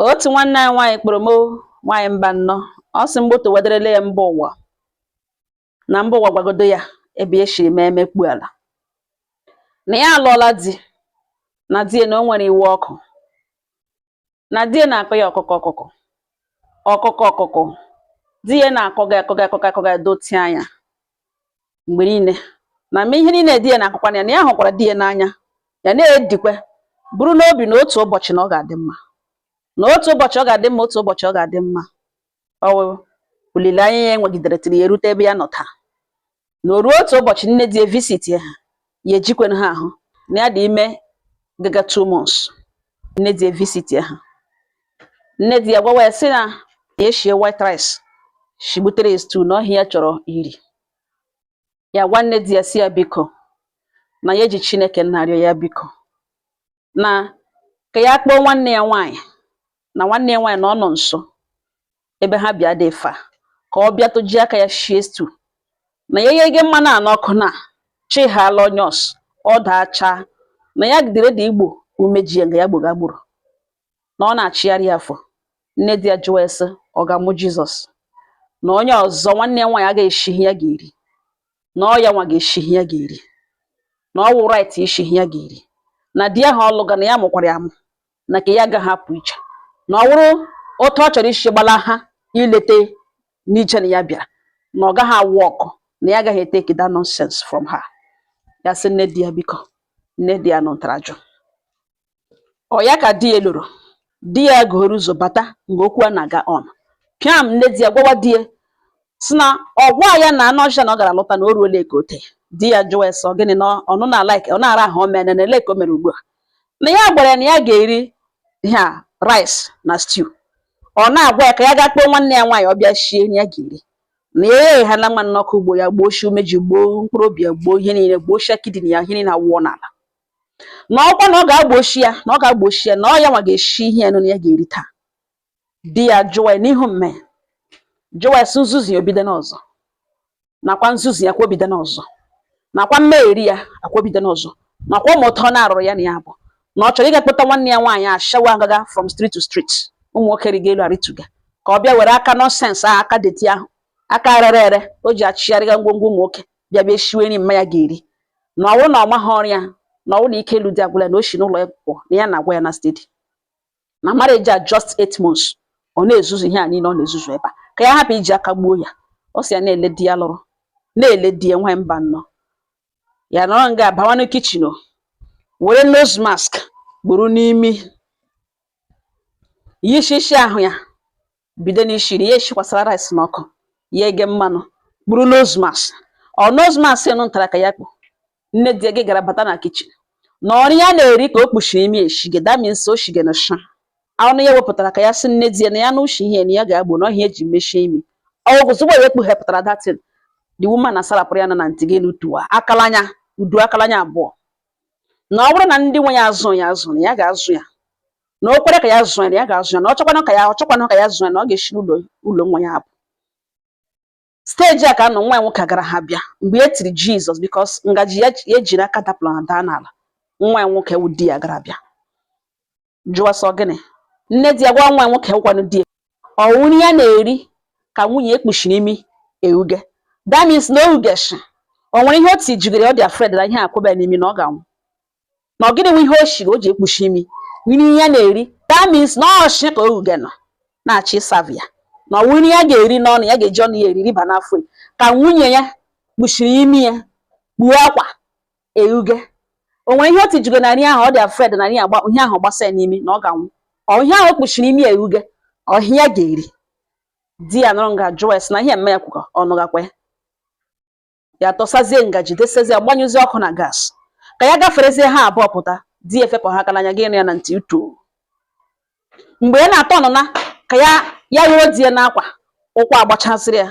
otu nwanne anyị nwaanyị kpọrọ m nwaanyị mba nnọọ ọ sị mgbọtọ wederele ya mba ụwa na mba ụwa gwagodo ya ebe ya shiri mee emekpu ala na ya alụọla di na di ya na o nwere iwe ọkụ na di ya na-akọ ya ọkụkọ ọkụkọ ọkụkọ ọkụkọ di ya na-akọga akọga akọga akọga dotie anya mgbe niile na ma ihe niile di ya na-akọkwa ya na ya hụkwara di ya n'anya ya na-edikwe buru n'obi na otu ụbọchị na ọ ga-adị mma na otu ụbọchị ọ ga-adị mma otu ụbọchị ọ ga-adị mma ọ wụ olileanya ya enwegidere tiri ya erute ebe ya nọ taa na o ruo otu ụbọchị nne di ya visitia ha ya ejikwen ha ahụ na ya dị ime gaga two months nne di ya evisitia ha nne di ya gwawa ya sị na ya shie white rice shigbutere ya stew na ọ ihe ya chọrọ iri ya agwa nne di ya sị ya biko na ya eji chineke na-arịọ ya biko na ka ya kpọọ nwanne ya nwaanyị na nwanne ya nwaanyị na ọ nọ nso ebe ha bi adịghị far ka ọ bịa toji aka ya shie stew na ya eghee mmanụ a n'ọkụ na chighala onions ọ daa chaa na ya gidere dị ịgbọ umeji ya nga ya gbọga gburu na ọ na-achịgharị ya afọ nne di ya jụwa ya sị ọ ga-amụ jizọs na onye ọzọ nwanne ya nwaanyị agaghị eshi ihe ya ga-eri na ọ ya nwa ga-eshi ihe ya ga-eri na ọ wụ right ishi ihe ya ga-eri na di ahụ ọ lụga na ya mụkwara ya amụ na ka ya agaghị apụ iche na ọ wụrụ otu ọ chọrọ ishi gbalaha ilete n'iche na ya bịara na ọ gaghị awọkụ na ya agaghị eteki that nonsense from her ya sị nne di ya biko nne di ya nụtara jụ Ọ ya ka di ya lọrọ. Di ya gụghoro ụzọ bata mgbe okwu a na-aga on. Pịam nne di ya gwawa di ya sị na ọ gwa ya na anụ ọhịa na ọ gara lụta na o ruola eke ote. Di ya jụwa ya sị ọ gịnị na ọnụ na-alaik ọ na-ara ahụ o meene na ele ka o mere ugbu a. Na ya gwara ya na ya ga-eri ihe a rice na stew. Ọ na-agwa ya ka ya gaa kpọọ nwanne ya nwaanyị ọ bịa shie ihe ya ga-eri. Na ya egheghela mmanụ n'ọkụ gbọọ ya gbọọ shi umeji gbọọ mkpụrụ obi ya gbọọ ihe niile gbọọ shi kidney ya ihe niile awụọ n'ala. na ọkwa na ọ ga-agbochi ya na ọ ga-agbochi ya na ọ ya nwa ga-eshi ihe ya nụ na ya ga-eri taa di ya jụwa ya n'ihu mme jụwa ya sị nzuzu ya o bidona ọzọ nakwa nzuzu ya kwa o bidona ọzọ nakwa mmegheri ya kwa o bidona ọzọ nakwa ụmụ ụtọ na-arụrụ ya na ya bụ na ọ chọrọ ịga kpọta nwanne ya nwaanyị ashawo agaga from street to street ụmụ nwoke arịga elu arịtuga ka ọ bịa were aka nonsense ahụ aka dirty ahụ aka rere ere o ji achịgharịga ngwongwo ụmụ nwoke bịa bịa shiwe nri mma ya ga-eri na ọ wụrụ na ọ maha ọrụ ya na ọ wụrụ na ike ịlụ di agwụla ya na o shi n'ụlọ ya pụọ na ya na-agwa ya na steady na marriage a just eight months ọ na-ezuzu ihe a niile ọ na-ezuzu ebe a ka ya hapụ iji aka gbuo ya ọ sị ya na-ele di ya lụrụ na-ele di ya nwaanyị mba nnọọ ya nọrọ nga abawanụ kitchen were nose mask gburu n'imi ihe ishi ishi ahụ ya bido n'ishiri ya eshikwasara rice n'ọkụ ya eghe mmanụ kpuru nose mask ọ nose mask nụ ntara ka ya kpu nne di ya gara bata na kichin na ọ nri ya na-eri ka o kpuchiri imi eshige that means o shige na sha ọnụ ya wepụtara ka ya sị nne di ya na ya na ushi ihe na ya ga-agbọ na ọ ihe ya ji mechie imi ozugbo ya ekpughepụtara that thing the woman asarapụrụ ya na na ntị gị n'utuwa akalanya utu akalanya abụọ na ọ bụrụ na ndị nwe ya azụ ya azụ na ya ga-azụ ya na o kwere ka ya zụọ ya na ya ga-azụ ya na ọ chọkwanụ ka ya ọ chọkwanụ ka ya zụọ ya na ọ ga-eshi n'ụlọ nwa ya apụ stage a ka a nọ nwa ya nwoke gara ha bịa mgbe ya tiri jesus because ngaji ya ji n'aka dapụrụ na daa n'ala nwa ya nwoke wụ di ya gara bịa jụọ sị ọ gịnị nne di ya gwa nwa nwoke gwanụ di ya ọwụ nri ya na-eri ka nwunye ya kpuchiri imi eghuge that means na o ghuge shị o nwere ihe o tijigere ọ dị afraid na ihe akwụba ya n'imi na ọ ga-anwụ na ọ gịnị nwe ihe o shiri o ji ekpuchi imi nri ya na-eri that means na ọ nshi ka o ghuge nọ na-achọ iserve ya na ọwụ nri ya ga-eri n'ọnụ ya ga-eji ọnụ ya eri riba n'afọ ya ka nwunye ya kpuchiri imi ya kpuo akwa eghuge o nwere ihe o tijige na nri ahụ ọ dị afraid na ihe ahụ gbasa ya n'imi na ọ ga-anwụ ọ ihe ahụ o kpuchiri imi eghuge ọ ihe ya ga-eri di ya nọrọ nga jụọ ya sị na ihe mme ya kwukọ ọ nụgakwa ya ya tọsazie ngaji desezie gbanyụzie ọkụ na gas ka ya gaferezie ha abụọ pụta di ya efepụ ha aka n'anya gị ịnụ ya na ntị utu mgbe ya na-atọ ọnụ na ka ya ghọrọ di ya n'akwa ụkwụ agbachasịrị ya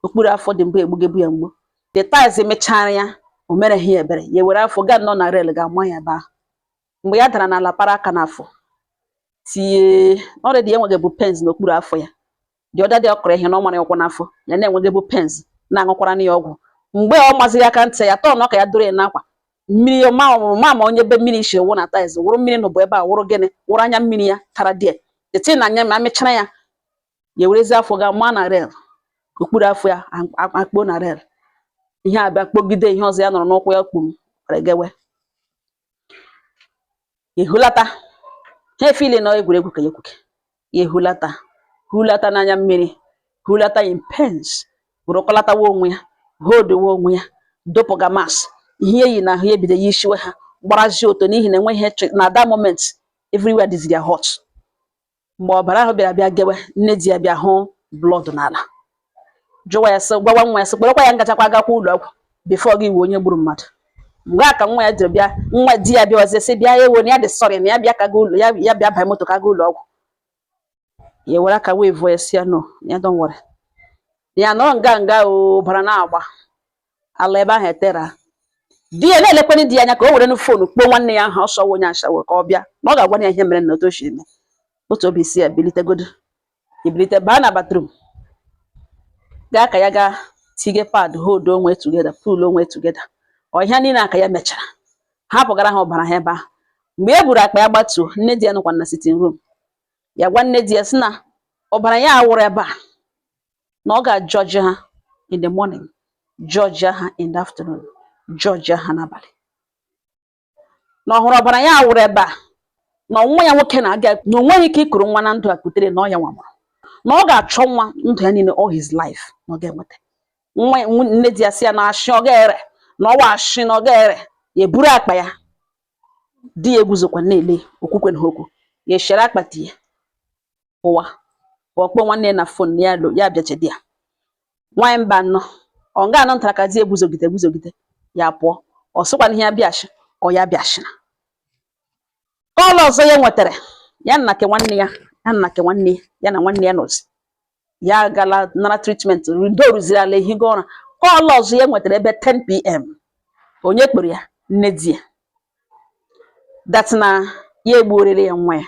okpuru afọ dị mbụ egbugebu ya mgbu the tiles amịchara ya o mereghị ya ebere ya were afọ gaa nọ na rail ga-ama ya ebe ahụ mgbe ya dara n'ala para aka n'afọ tie na already ya enwegebu pains n'okpuru afọ ya the other day ọ kụrụ ihe na ọ mara ụkwụ n'afọ ya na-enwegebu pains na-aṅụkwara ya ọgwụ mgbe ọ maziri aka ntị ya tọọ ọnụ ka ya dọrọ ya n'akwa mmiri ma ọmụrụ ma ma onye ebe mmiri si wụ na tiles wụrụ mmiri n'ụbụ ebe a wụrụ gịnị wụrụ anya mmiri ya tara die eti na anya ma amịchara ya ya werezi afọ ga maa na rail okpuru afọ ya akpọ na rail ihe abịa kpọgide ihe ọzọ ya nọrọ n'ụkwụ ya kpum were gewe ehulata ha afeel na egwuregwu ka ya gwuke ehulata hulata n'anya mmiri hulata in pains bụrụkọlatawa onwe ya hodowe onwe ya dọpụga mas ihe ya yi n'ahụ ya ebido yisiwe ha gbarazie ọtọ n'ihi na enweghị na that moment everywhere dịziri ya hot mgbe ọbara ahụ bịara bịa gewe nne di ya bịa hụ blood n'ala jụwa ya sị gwawa nwa ya sị kpọrọkwa ya ngachakwa agakwa ụlọ ọgwụ before gị ịwụ onye gburu mmadụ mgbe a ka nwa ya jiri bịa nwa di ya bịa ọzọ sị bịa ewo na ya dị sorry na ya bịa ka ụlọ ya bịa banye moto ka a gaa ụlọ ọgwụ ya were aka wee vụọ ya sị ya no ya don't worry ya nọrọ nga nga ọbara na-agba ala ebe ahụ etera di ya na-elekwana di ya anya ka o were nụ phone kpọọ nwanne ya ahụ ọsọ onye ashawo ka ọ bịa na ọ ga-agwa ya ihe mere na otu o si eme otu obi si ya bilitegodo ibilite baa na bathroom gaa ka ya gaa tige pad hold onwe together pull onwe together ọ ihe niile aka ya mechara hapụgara ha ọbara ha ebe ahụ mgbe e buru akpa ya gbatuo nne di ya nọkwa na sitting room ya gwa nne di ya sị na ọbara ya a wụrụ ebe a na ọ ga-ajọji ha in the morning jọjia ha in the afternoon jọjia ha n'abalị na ọ hụrụ ọbara ya wụrụ ebe a na nwa ya nwoke na-aga na o nweghị ike ikuru nwa na ndụ a kutere na ọ ya nwa mụrụ na ọ ga-achọ nwa ndụ ya niile all his life na ọ ga-enweta nwa ya- nwa- nne di ya sị ya na ashị ọ ga-ere na ọ wụ ashị na ọ ga-ere ya eburu akpa ya di ya eguzokwa na-ele o kwukwenaha okwu ya eshere akpati ya pụwa pụọ kpọọ nwanne ya na phone ya lo ya bịachedi ya nwaanyị mba nọ ọ nga anọ ntara ka di ya eguzogide eguzogide ya pụọ ọ sịkwana ihe ya bịachi ọ ya bịachina call ọzọ ya nwetara ya na nke nwanne ya ya na nke nwanne ya ya na nwanne ya nọzi ya agala nara treatment ndo rụziri ala ehigo ụra call ọzọ ya nwetara ebe 10pm onye kpọrọ ya nne di ya that na ya egbuorele ya nwa ya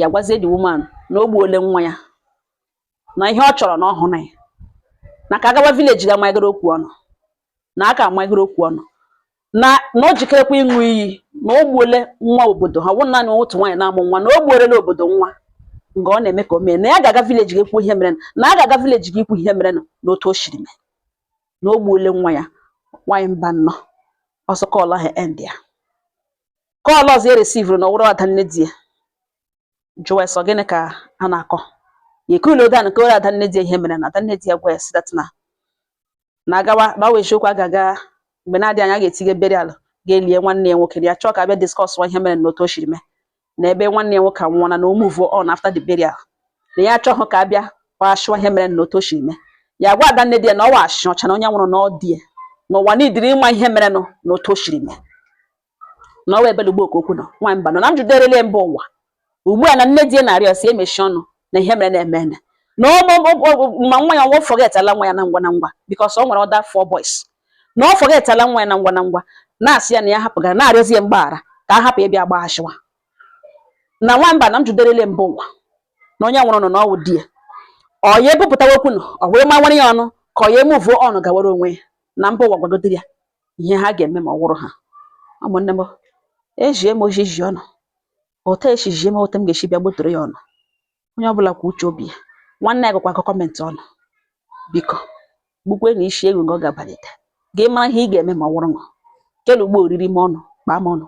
ya gwazie the woman na o gbuole nwa ya na ihe ọ chọrọ na ọ hụrụ ya na ka a gawa village ga manyegoro okwu ọnụ na aka amanyegoro okwu ọnụ na na o jikerekwa ịṅụ iyi na o gbuole nwa obodo ha wụ naanị otu nwaanyị na-amụ nwa na o gbuorela obodo nwa nga ọ na-eme ka o mee na ya ga-aga village ga kwuo ihe mere na a ga-aga village ga ikwu ihe mere na otu o siri mee na o gbuole nwa ya nwaanyị mba nọ ọsọ call ahụ end ya call ọzọ ya resivuru na ọ wụrụ ada nne di ya jụwa ya sị ọ gịnị ka a na-akọ ya ekuluo down kọwara ada nne di ya ihe mere na ada nne di ya gwa ya sị that na na agawa na ọ wụ eziokwu a ga-aga mgbe na-adị anya a ga-etinye burial ga-elie nwanne ya nwoke na ya chọọ ka a bịa discuss ihe mere na otu o siri mee na ebe nwanne ya nwoke anwụọla na o move on after the burial na ya achọghị ka a bịa kpashụwa ihe mere na otu o siri mee ya gwa ada nne di ya na ọ wụ ashị ọcha na onye nwụrụ na ọ di ya na ụwa niidiri ịma ihe merenụ na otu o siri mee na ọwa ebele ugbo okwu nọ nwa mba nọ na m jụderele mba ụwa ugbu a na nne di ya na-arịọ sị e mechie ọnụ na ihe mere na-eme eme na ma nwa ya nwa fọgetala nwa ya na ngwa na ngwa because o nwere other four boys na ọ fọgetala nwa ya na ngwa na ngwa na-asị ya na ya hapụgara na-arịọzi ya mgbaghara ka a hapụ ịbịa kpaghasịwa na nwa mba na m jụderele mba ụwa na onye nwụrụ nọ na ọ wụ di ya ọ ya ebupụtawa okwu nọ ọ wee mawara ya ọnụ ka ọ ya emuvuo on gawara onwe ya na mba ụwa gwagodiri ya ihe ha ga-eme ma ọ wụrụ ha ụmụnne m ejie m ojiji unu otu esi jie m otu m ga-esi bịa gbotoro ya unu onye ọbụla kwa uche obi ya nwanne ya gụkwa kọmentị unu biko gbukwe na isi egwu nga ọ ga-abalite gị mara ihe ị ga-eme ma ọ wụrụ ṅụ kelu ugbo oriri m ọnụ kpaa m ọnụ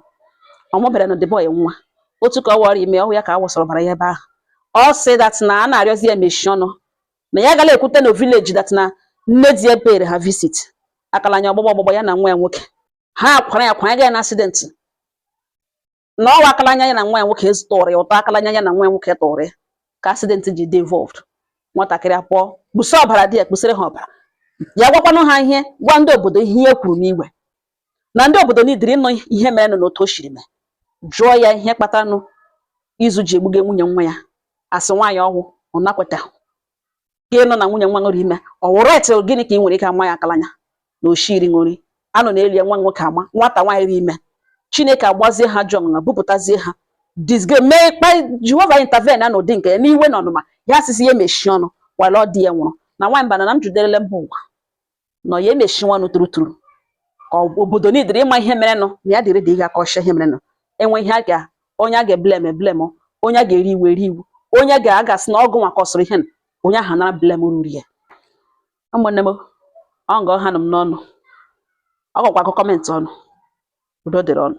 ọmụbere na the boy nwa otu ka ọ wụrụ ime ọhịa ka a wụsara ọbara ya ebe ahụ ọ sị dat na a na-arịọzi ya mechi ọnụ na ya agala ekwute na vileji dat na nne di ya pere ha visit akala anya ọgbọgbọ ọgbọgbọ ya na nwa ya nwoke ha kwara ya kwara ya na asidenti na ọ wụ akala anya ya na nwa ya nwoke tụrụ ya ụtọ akala anya ya na nwa ya nwoke tụrụ ya ka asidenti ji dị involved nwatakịrị apụọ kpusa ọbara di ya kpụsịrị ha ọbara ya gwakwanụ ha ihe gwa ndị obodo ihe ya kwuru n'igwe na ndị obodo nidiri ịnụ ihe merenụ na otu o siri mee jụọ ya ihe kpatanụ izu ji egbuge nwunye nwa ya asị nwaanyị ọhụ ọ na-ekweta ka ịnọ na nwunye nwa ṅụ rị ime ọ wụrụ etu gịnị ka ị nwere ike ama ya akalanya na oshiri ṅụri anọ na-eli ya nwa nwoke ama nwata nwaanyị rị ime chineke agbazie ha jụ ọṅụṅa bupụtazie ha disge mee kpa jehova intervene na n'ụdị nke ya n'iwe na ọnụma ya asịsị ya emechie ọnụ wala ọ di ya nwụrụ na nwaanyị bana na m juderele mba ụwa nọ ya emechi ọnụ turuturu ka obodo nidiri ịma ihe merenụ na ya dị ready ịga akọsha ihe merenụ enwe ihe a ga onye a ga-eblem eblem onye a ga-eri iwu eri iwu onye a ga-asị na ọ gịnwa kọsọrọ ihe onye ahụ nara blem ruru ya ụmụnne m ọ nga ọ hanụ m n'ọnụ ọ gakwa agụ kọmentị unu udo dịrị unu